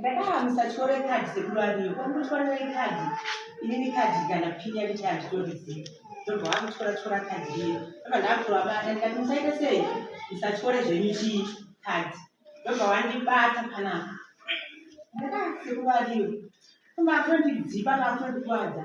Ndakaha musatore kadhi sekuru ariyo kwakutotora ikadhi inini kadhi kana pini yanditi handitorizii ndobva vakutora tora kadhi riye ndobva ndakutovabata ndikati musaita sei musatore zvenyu chii kadhi ndobva vandibata panapa ndakaha sekuru ariyo kumba atondidzipa kaakutondikwadza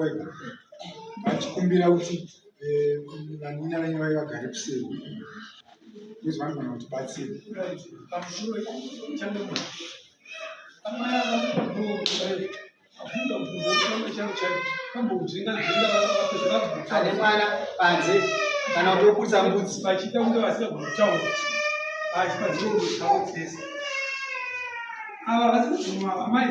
wega vachikumbira kuti eh, vanina venyu vave vagare kuseri kuzi vanogona kuti batsiri ane mwana panze kana kuti okurisa mbudzi vachiita kunge vasina kutaura asi padzinoaotsesa ava vasi kuguma amai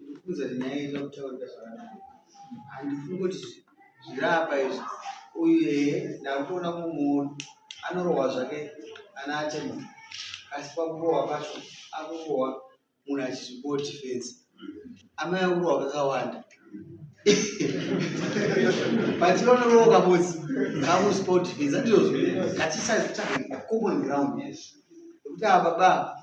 Ndikufunza kuti nyaya inoda kutaurika zvakanaka. Handifungi kuti zviri apa izvi. Uyu eye ndakutoona kumuona anorohwa zvake ana atemo asi pakurohwa pacho akurohwa munhu achizvipo defense. Amai akurohwa kakawanda. But vanorohwa kamodzi kakusipo defense andizvo zviri. That is a common ground. Yes. Kuti ava baba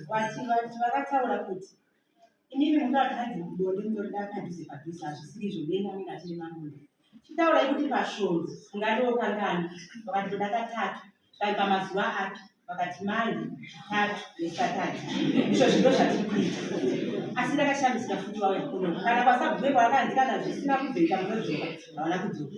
vakataura kuti inini mukakadzi mudonde mudonde akadhuze padhuze hazvisiri izvo neni anenge achiri mamunhu chitaurai kuti pasvondo ungariwo kangani vakati ndoda katatu kai pamazuva api vakati manje tatu nesatani izvo zvino zvatiri kuita asi ndakashamisika futi wauya kuno kana kwasagume kwaakandikana zvisina kubveka munodzoka havana kudzoka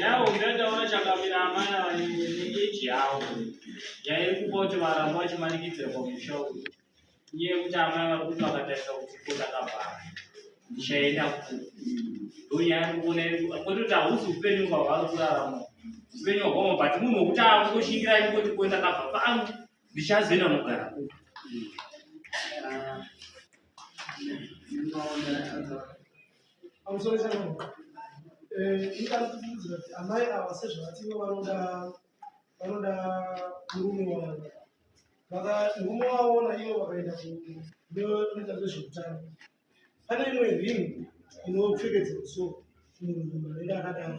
Yavo ndataura chakamira amana vanengeji yavo yaikupa kuti varamba vachimanikidzira pamusha uyu uye kuti amai vari kuti vakatarisa kuti ko ndakavhara ndichaenda kupi ndonyaya kuona kwete kuti hausi upenyu kwavari kurarama upenyu hwakoma but munhu wokuti akutoshingira ikoti ko ndakabva pano ndichazoenda nogara kupi pamusoro chaipo eh, ingari tikuudzira kuti amai ava sezvavativo vanoda vanoda murume wavo vakamurume waona ivo vakaenda kunoita zvezveutano pane imwe rinhu inopfekedzwa so munhu anenge akadaro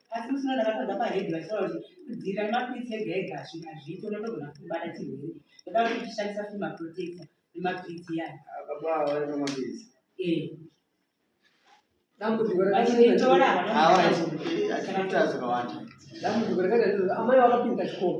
asi musi unoda vatanga pahedhi vachitaura kuti kudzivirira nemapiritsi ega ega hazvika zviito unotogona kutobata chirwere ndoda kuti uchishandisa futi maprotector nemapiritsi yayo amai vakapinda chikoro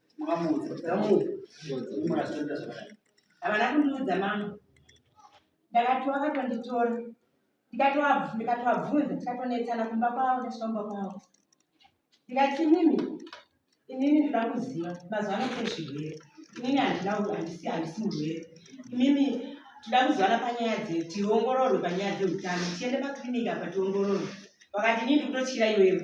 Mwamuudza, mwamuudza, mwamuudza, havana kundiudza mama ndakatiwa akatonditora ndikatovabvunza tikatonetsana kumba kwavo ndasvamba kwavo ndikati mimi inini ndoda kuziva mazuva ano kune zvirwere inini handina handisi handisi murwere imimi toda kuzivana panyaya dze tiongororwe panyaya dzeutano tiende pakliniki apa tiongororwe vakati inini ndikutotyira iwewe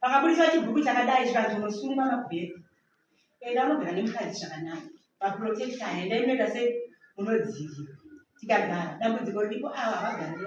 pakabudiswa chibhuku chakadai zvikanzi unosungwa makubheri enda unogara nemukadzi zvakanaka vaprotecta enda inoita se munodzivi tikagara dambudziko riripo ava havagarii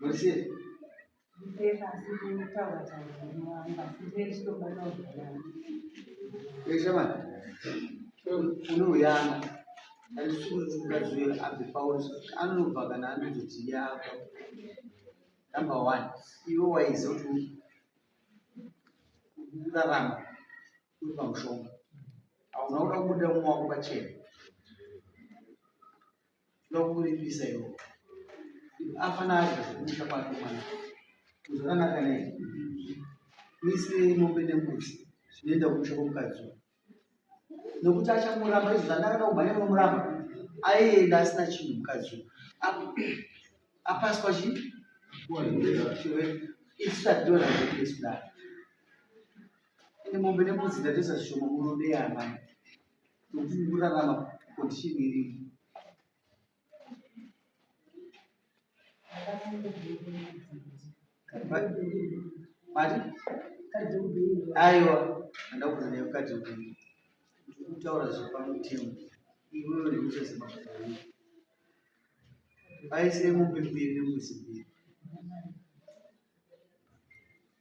Murisei? Eshamani, unouyana andisikukaziwe abve pauri anobva kana anozoti yako number one iwe waiziva kuti kurarama uri pamushonga hauna kuda kubuda umwe wako pachena ndokuripisa iwo afana acho kumusha kwake mwana kuzonanaka nei misi mombe nembudzi zvinoenda kumusha kwomukadzi nokuti achamuramba izvo zvandakada kumhanya nomuramba aienda asina chinhu mukadzi apaswa chi isu tationa zvekudaro ende mombe nembudzi ndatoisa zvishoma murude yaamai kuti kurarama condition iri mati aiwa andakuza naye mukadzi upenyu ndikutaura zvepamutemo iwe ndikuchazimaaai aisire mombe mbiri nemuzi mbiri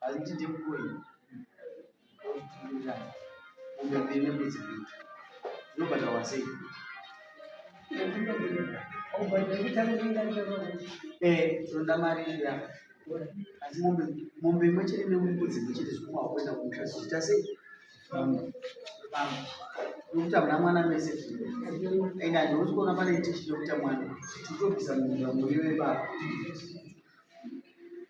Hazviti ndimukoi ofutirira kumbe mbiri nekudzibita dzinobata wasei toda mari iya asi mombe mombe imwe chete nemubudzi imwe chete zvikuma kuenda kumusha zvichita sei nokuti hamuna mwana mese and handiosi kuona pane tichi yokuita mwana titobvisa muvira muriwe baba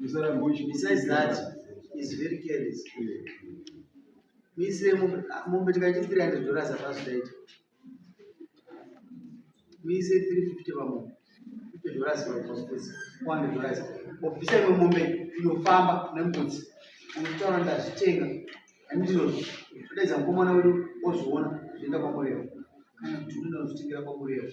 Besides that, he's very careless. Muisire mombe tikaiti 300 dollars hapasi taita. Muise 350 pamombe. 50 dollars pamupesi. 100 dollars. Obvisa imwe mombe inofamba nembudzi. Unotaura ndazvitenga. Handizvo zvodaidza mukomana wedu ozviona zvoenda kwamureva. Kana kuti unoda kuzvitengera kwamureva.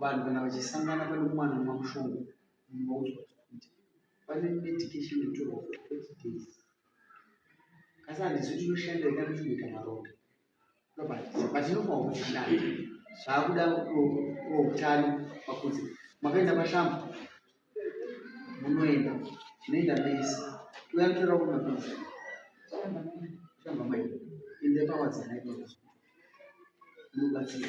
Vanhu kana vachisangana pane mwana mamushonga moudzwa kuti pane medication inotorwa for 30 days. Kasi handizi kuti inoshanda ika ndotoita maronda. But inofanira kuti ishande. Zvaakuda utano pakunzi makaenda pashamba munoenda tinoenda mese touya kutora kuti mapiritsi shamba mai ende pawadzi nhaiaa munobatsira